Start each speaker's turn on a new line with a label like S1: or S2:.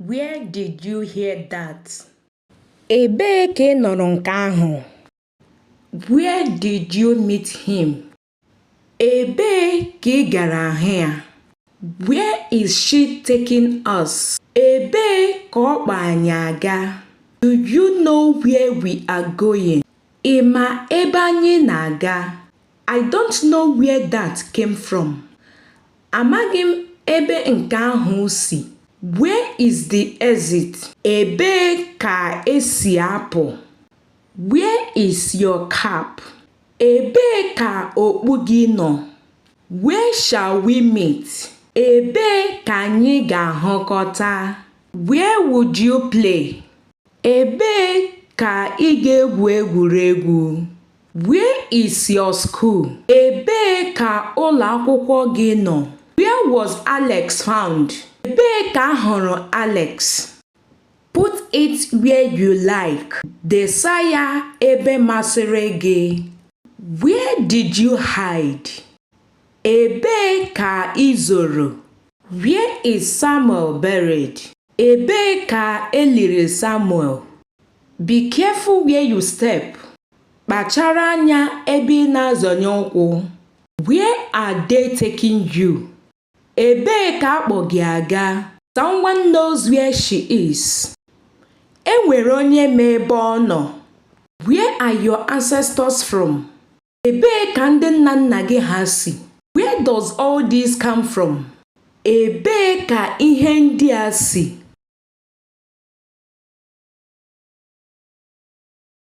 S1: Where did you hear that? Ebee ka ị nụrụ nke ahụ? Where did you meet him? Ebee ka ị gara hụ ya? Where is she taking us? Ebee ka ọ kpọ anyị aga? Do you know where we are going? Ị ma ebe anyị na-aga? I don't know where that came from. Amaghị m ebe nke ahụ si. Where is the exit? Ebee ka e si apụ? Where is your cap? Ebee ka okpu gị nọ? Where shall we meet? Ebee ka anyị ga-ahụkọta? Where would you play? Ebee ka ị ga-egwu egwuregwu? Where is your school? Ebee ka ụlọ akwụkwọ gị nọ? Where was Alex found? Ebee ka a hụrụ Alex? Put it where you like. Desa ya ebe masịrị gị. Where did you hide? Ebee ka i zoro? Where is Samuel buried? Ebee ka e liri Samuel? Be careful where you step. Kpachara anya ebe ị na-azọnye ụkwụ. Where are they taking you? Ebee ka a kpọ gị aga? Someone knows where she is. E nwere onye ma ebe ọ nọ. Where are your ancestors from? Ebee ka ndị nna nna gị ha si? Where does all this come from? Ebee ka ihe ndị a si?